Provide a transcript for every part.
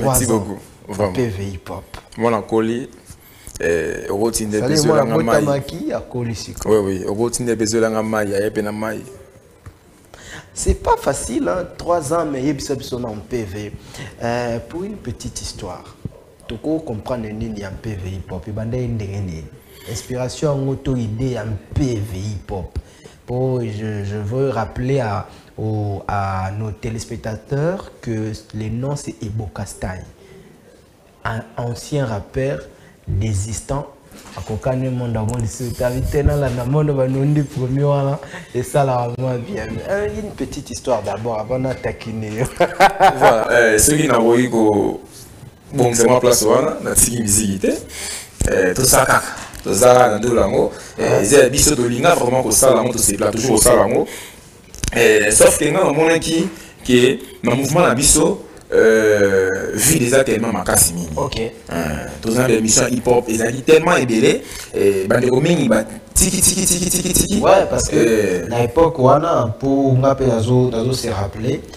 Merci beaucoup. Vraiment. PVI pop. Moi, la colis. Eh, okotinde mpe ezolanga mai oui oui okotinde mpe ezolanga mai aye mpe na mai c'est pas facile hein? trois ans mais yebisa biso na mpv euh, pour une petite histoire toko comprendre nini ya mpv hip hop ebandaki ndenge nini inspiration yango to idée ya mpv hip hop Oh, je, je, veux rappeler à, au, à nos téléspectateurs que le nom c'est Ebokastai, un ancien rappeur désistant. akokani mondo yango lisusu tabi te nalanda mondo banundi premier wana esalaka mwa bien euh, une petite histoire d'abord avant natakine yo voilà eh, soki nakoki ko bongisa mwa place wana natiki miziki te eh, tosala kaka toza na ndolo yango eh, eza ya biso tolinga vraiment kosala yango tosepela toujours kosala yango eh, sauf ke ngai namonaki ke na mouvement na biso Euh, vu déjà tellement makasi mingi okay. euh, toza na émission hip hop ezalaki tellement ebele eh, bandeko mingi tiki tiki tiki tiki tiki ouais parce que euh, na époque wana mpo nga mpe nazo se rappeler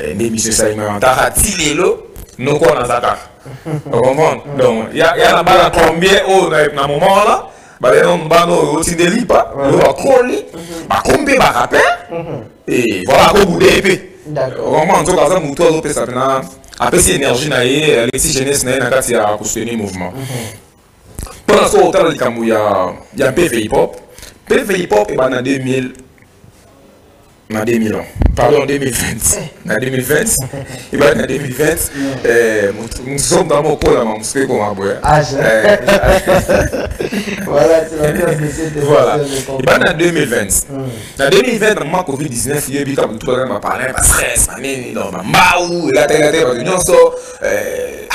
Eh, nde emission esalimaka kaka ti lelo noko wana aza kaka ocomprendre donc ya na bana combien oyo oh, na moment wana baleno mbana oyo oh, otinde lipa oyo bakoli bakomi mpe bakape e voilà akobude mpe ocomprendre nzoka aza motu azopesa mpena apesi énergie na ye alexi jeunesse na ye na kati ya kosoutenir mouvement mpo na soki otala likambo ya mpeve hip hop mpeve hip hop ebanda 2000 na 2000 ans pardon 2020 eh. na 2020 ebandi na 2020 mosomba eh, mokola ma mosusu ekoma boya ebandi na 2020 na 2020 na mwa covid 19 yebi kaka motu bazana baparin bastress banini no bambau elatelate bato nyonso eh,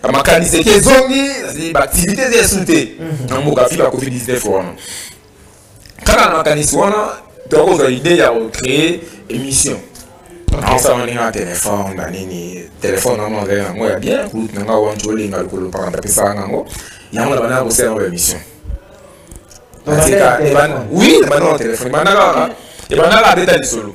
ah, makanisi eke ezongi baaktivité eza esu te na mboka fila covid 19 wana kaka na makanisi wana tokozwa idee ya kocree émission naosala ndenge na telefone na nini telefone yango azali yango ya bien kulute na nga wanci olinga lokolo mpaka ndapesaka yango yango na bandaka kosala yango émission oui ebandaka na telefone ebandaka abeta lisolo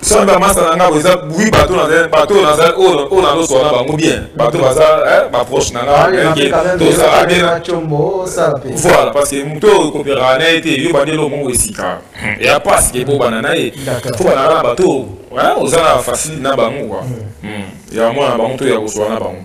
soki bamasa na ngai eza bui bato bato oyo naloswa na bango bien bato baza baproche na ngai tozala bien voilà parce que moto oyo kopera na ye te yo bandi eloko moko esika ya pasi ke bobana na ye fo banaka na bato oza na facile na bango kua ya mwana na bango to ya koswa na bango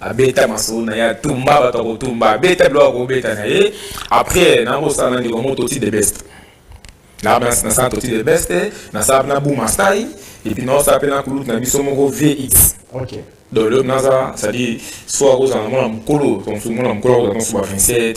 abeta masolo na ye atumba bato ya kotumba abeta biloko ya kobeta na ye après nakosala ndeko yango toti the best nasala toti the best nasala na buma stai epuis naosala mpe na kulute na biso moko vx okay. donc le naza cestadire soit akozala mwana mokolo mwana mokolo akozala nsuba 27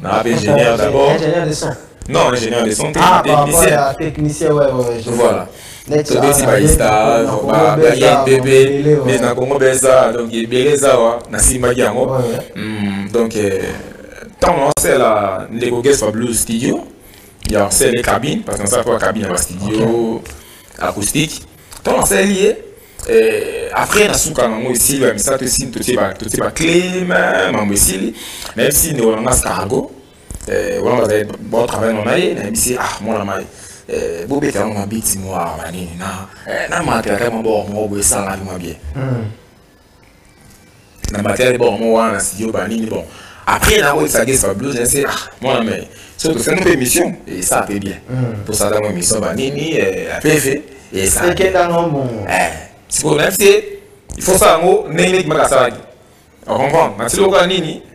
Na ingénieur d'abord. Ingénieur de son. Non, ingénieur de son, ah, technicien. Ah, technicien, ouais, ouais, je Voilà. tobeti baista baye pepe mais na kongo beza donc ebele eza wa nasimbaki yango donc ntango naosela ndeko gespa blue studio ya osele cabine parce que nasala mpo ya cabine ya bastudio acoustique ntango naseli ye Eh, après nasuka nango esili ya misato esili totie baclé mambo esili nayebisi ndeko na nga scargo eh, wana bazali batravail na ye nayebisi ah mwana mai eh, bobeta yango mabiti mwa banini na matelaka mwa bor moko boye esalaka mwa bien hmm. na matière bon mo wana na studio ba nini bon après na ko exage sa blues na se ah mwana mais so to sema pe mission et ça pe bien mm. to sala mo mission ba nini eh, la pefe et ça c'est que dans mon eh c'est pour même c'est il faut ça ngo nene maka salaki on comprend na tiloka nini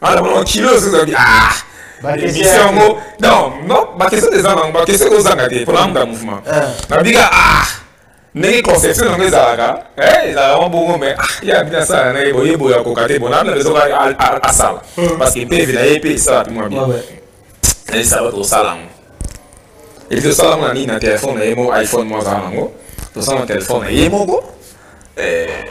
Ala mama kilo zozo bi ah. Bakese yango non non bakese des ans bakese ko zanga te pour l'âme mouvement. Ah. Na biga ah. ndenge conception yango ezalaka eh, ezalaka mwa bongo mai ah, ye abina asala na ye boye boye akoka te bona amina ezoka asala hmm. parce que mpeve na ye mpe esala mpe mwa bien nayesa bato kosala yango epi tosala yango na nini na telefone na ye moko iphone moko azala nango tosala na telefone na ye moko eh,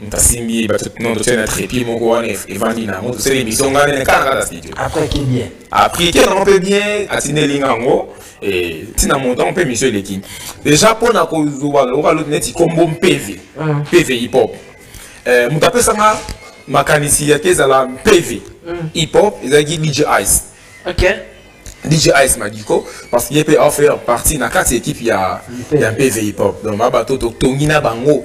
ntasimbi non totie na trépied moko wana evandi na yango tosala émission ngai nene kaka na studio après qui bien après qui nango mpe bien atindeli nga yango ntina montant mpe émission eleki déjà mpo na kozwa lokola loti neti kombo mpeve mpeve hip hop moto apesanga makanisi yake ezala mpeve hip hop ezalaki dj ice okay. DJ Ice Madiko parce qu'il peut en faire partie na kati équipe ya ya PV Hip Hop donc ba bato to tongi na bango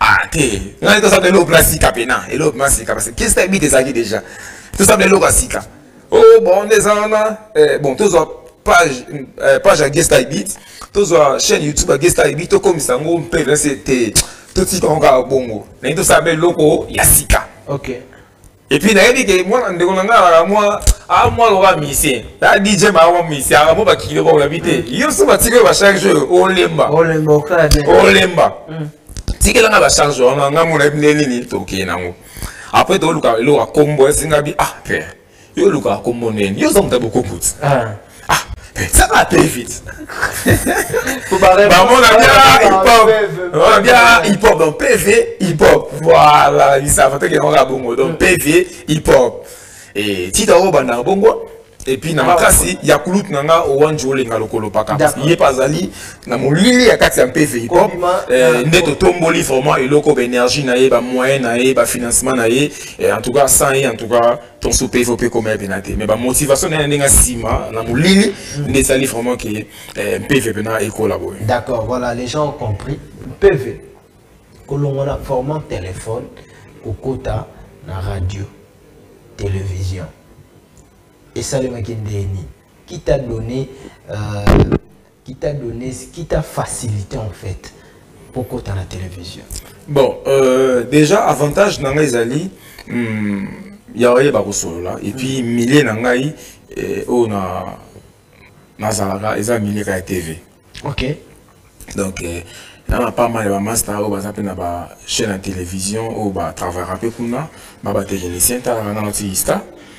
ah te ngai tosala eloko mpena sika mpena eloko mpena sika parce kesi ta ebite ezalaki déjà tosala eloko ya sika o oh, bon nde eza wana eh, bon tozwa page eh, page ya gesta ebit tozwa chaîne youtube ya gesta ebit tokomisa yango mpe vrese te totika yango kaka bongo naye tosala mpe eloko ya sika okay. Et puis nayebi ke mwana ndeko na ngai alaka mwa a mwa lokola musicien ya dj maa mwa musicien alaka mwa bakilo ba olabi te yo so batiki oyo bacharge oyo olemba olemba mm. tikela ngai bacharge wana ngai mona yebi nde nini tokee nango après toluka eloko ya kombo esingabi ah père yo oluka kombo nini yo oza moto ya bokokuti ah. ah ça va très vite bamona bia hip-hop bamona bia hip-hop donc pv hip-hop voilà lisava tokenda kaka bongo donc pv hip-hop e tita oyo bandaka bongo epuis na ah, makasi ya kulute na nga owanji olenga lokolo paka ye mpe azali na molili ya kati ya mpv hip-hop eh, nde totomboli vraiment eloko baénergie na ye bamoyen na ye bafinancement na ye eh, en tout cas sans ye en tout cas ton soupe il faut pe comme bien athée mais ba motivation na ndenge sima na mulili nde sali vraiment que eh, PV pena et collaborer d'accord voilà les gens ont compris PV kolongola format téléphone kokota na radio télévision esalemaki ndeni qui t'a donné euh, qui t'a donné qui t'a facilité en fait pour kota na télévision bon euh, déjà avantage na ngai ezali hmm, ya oyeba kosolola et puis mm. milieu na ngai eh, oyo na nazalaka eza milieu ka ya tv ok donc eh, na na pas mal ya bamasta oyo baza mpe na bachaîne ya télévision oyo batravaka mpe kuna ba batechnicien talaka nano ti ista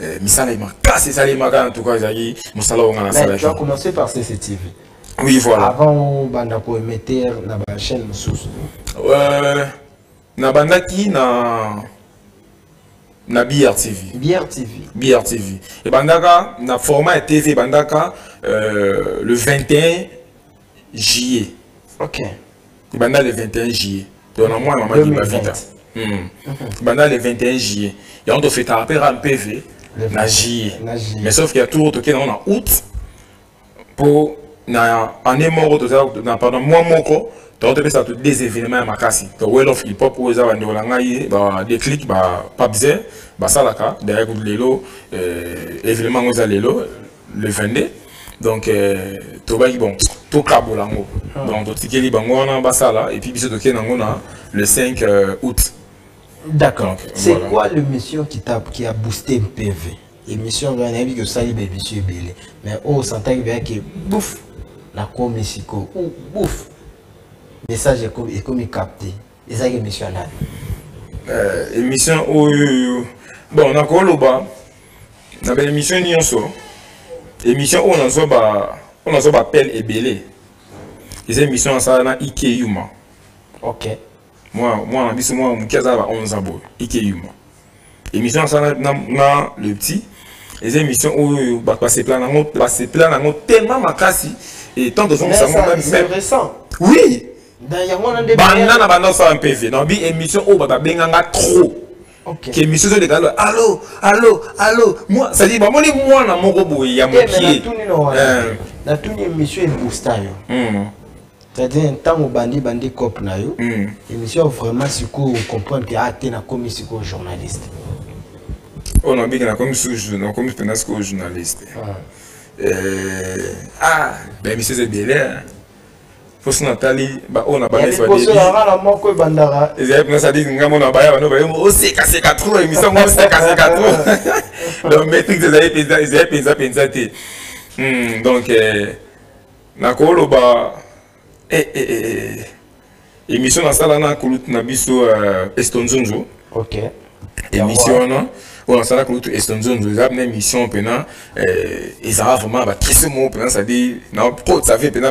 Eh, misala makasi esalemaka en tout cas ezalaki mosala oyo ngai nasalaki a commencé par cctv oui voilà avant obanda koemeter na bachaîne mosusu euh, nabandaki na na brtv brtv brtv ebandaka na format ya tv ebandaka euh, le 21 juillet ok banda le 21 juillet donc na mwana mama diba vita hmm. banda le 21 juillet yango tofetaka mpe ra mpeve na juillet mais sauf que ya tour tokei nango na août mpo na année moko toza na pardon mwa moko donc topesa to des événements ya makasi to well of hip hop oyo eza bandeko na ngai ba déclic ba papze basalaka derrière kutu lelo euh, événement yango eza lelo le 22 donc euh, tobaki bon tokabola yango ah. donc totikeli bango wana basala epuis biso tokei nango na le 5 euh, août d'accord c'est voilà. quoi le mission qui, a, qui a boosté mpv émission ngai nayebi ke osali baemission ebele mais oyo oh, osantaki beyake bouf nakomi sikoyo ou bouf message ekomi capte ezalaki émission ya nani euh, émission oyo bon nakoloba na baémission nyonso émission oyo nazwa ba oyo nazwa bapele ebele eza émission asala na ike yuma ok mwana biso mwana moke aza na ba 11 ans boye ike yuma Émission à ça, le petit. eza émission oyo bato basepela nango basepela nango tellement makasi et tant tozongisa ngo oui banda na banda osala mpe vie nabi émission oyo bato babenganga trop ke émission ezoleka lo allo allo allo cestadire bamoni mwana moko boye ya mokie natuni émission eboosta yo c'est-à-dire ntango obandi bandi cope na yo hmm. émission vraiment sikoyo ocomprendre ke ate ah, nakomi sikoyo journaliste oyo oh, nabiki nakomi susu nakomi mpenza sikoyo journaliste ah, eh, ah baemission eza ebele mposo natali baoyo na banaisoyanga moko ebandaka ezali mpenza sadi ngai mona baya bano baye osekaseka trop émission ngo osekaseka trop donc maîtrise ezali mpenza ezali mpenza mpenza te hmm, donc eh, nakoloba eh, eh, eh, eh. émission nasala na kulutu na biso uh, eh, estonzonzo okay. émission wana oyo nasala kulutu estonzonzo eza na émission mpena eh, ezala vraiment bakisi moko mpena cetadire na kosavi mpena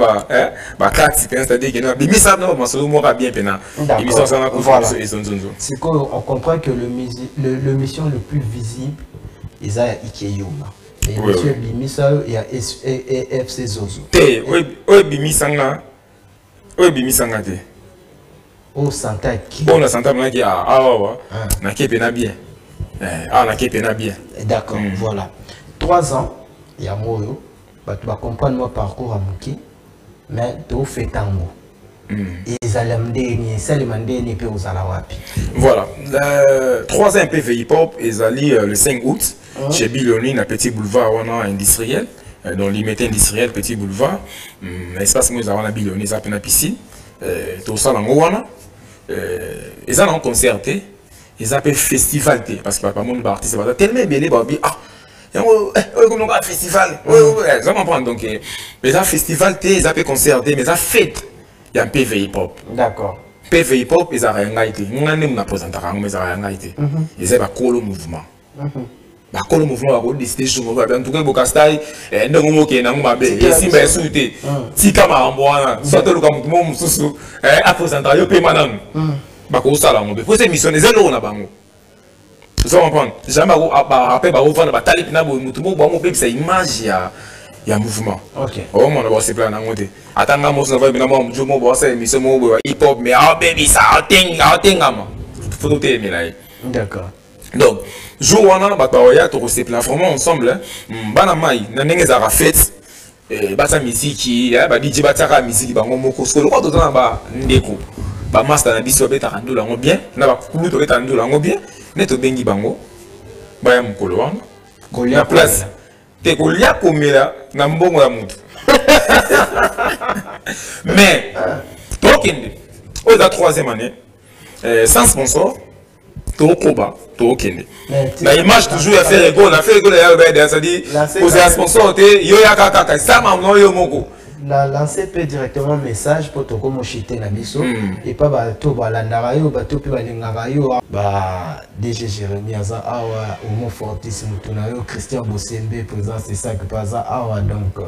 bakati eh, mpena cetadire kena bimisa na masolo moko bien mpena émission nasala na kulutu na biso estonzonzo sikoyo on comprend que le, le, le mission le plus visible eza ya ikeyoma emission ebimisa yo ya fc zozo te oyo ebimisa nga oyo ebimisa nga te oyo santaki oyo na santa manaki awawa nake mpena bien awa nake mpena bien d'accord mm. voilà trois ans yango oyo bato bacomprendre mwa parcours ya moke mais to fetango ezala ndenge nini esalema ndenge nini mpe ozala wapi voilà euh, trois ans mpe veipop ezali euh, le 5 août hein? chez biloni na petit boulevard wana industriel euh, donc limete industriel petit boulevard hmm, na espace moko eza wana biloni eza mpe na piscine tosala yango wana eza na concert te eza mpe festival te parce que bakamoni baartiste baza tellement ebele babi ah yango oyo ekomi lokola festival oza comprendre donc eza festival te eza mpe concert te mais eza fete ya mpv hip hop d'accord mpv hip hop ezalaka ya ngai te ngai nde mona présentaka yango mais ezalaka ya ngai te eza bakolo mouvement bakolo mouvement bakodeside jour moko babi antuka bokastai ndenge mokende yango mabe esimba esu te tika makambo wana so toluka moto moko mosusu apresentaka yo mpema nanu bakosala yango mpe mposa émission eza eloko na bango ozo comprendre jamais après bakovanda batali mpena boye motu moko bango bebisa image ya ya mouvement omona bakosepela nango te ata nga mosu navai mpena mwa mojo moko bakosala émission moko boye hip hop mais aobebisa aotengama fo totelemela ye d'accord donc jour wana bato baoya tokosepela vraiment ensemble hmm, bana mai na ndenge ezalaka fete Eh, basa miziki eh, badiji batiaka miziki bango moko soko lokola toza na bandeko bamasta na biso babetaka ndolo yango bien na bakulu tobetaka ndolo yango bien nde tobengi bango baya mokolo wana kolia place te kolia komela na mbongo ya motu mais tokende oyo eza troisième année eh, sans sponsor tokoba tokende eh, na image toujours ya ferre go na ferre go na yalo bede c'est-à-dire kozala sponsor te yo yaka kaka esama mwa yo moko la lancer mpe directement message mpo tokomoshite na biso hmm. epa bato balandaka yo bato mpe balingaka yo ah. ba dg jérémi aza awa homo fortis motu na yo christian bosembe présence esaki mpe aza awa donc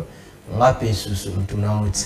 nga mpe susu motu na yo ti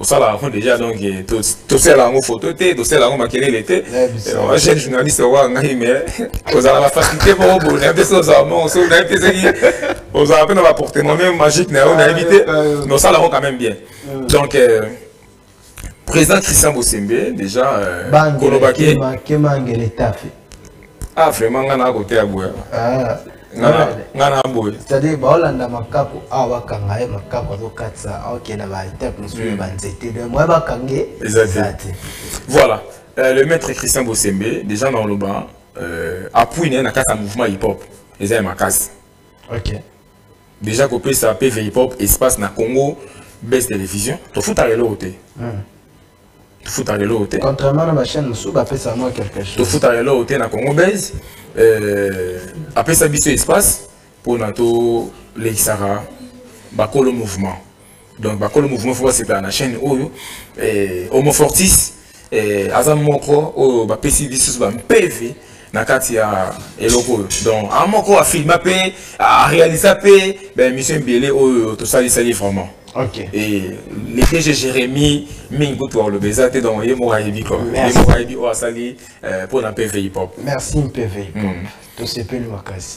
osala yango déjà donc eh, tosala yango photo te tosala yango makelele te jeune eh, journaliste okoka ngai mais ozala bafaculté moko boye nayebi te soki ozala mongo soki nayebi te soki ozala mpe na baportement meme magique na yo nayebi te mais osala yango quand même bien donc euh, président christian bosembe déjà euh, kolobaki ah vraiment nga na kote ya boya ah. nga na boye c'est-à-dire baolanda makako awa bakanga ye makako azokatisa akenda baetape mosusu ya banzete de moye bakange eza te voilà euh, le maître christian bosembe déjà na oloba euh, appui na ye na kati ya mouvement hip hop eza ya makasi ok déjà kopesa pv hip hop espace na congo base télévision tofutaka eloko te hmm. tofutaka eloko te contrairement na bachaine mosusu bapesa mwa quelque chose tofutaka eloko te na congo base euh, apesa biso espace mpona tolekisaka bakolo mouvement donc bakolo mouvement fo basepela na chaîne oyo euh, homofortis euh, aza moko oyo bapesi biso bampeve na kati ya eloko oyo donc a moko afilma mpe arealisa mpe baémission ebele oyo tosalisaki vraiment Okay. Et les DG Jérémy, mingi kutu aloba eza te donc ye moko ayebi quoi. Ye moko ayebi oyo asali mpo na PV hip hop. Merci PV hip hop. Tosepeli makasi.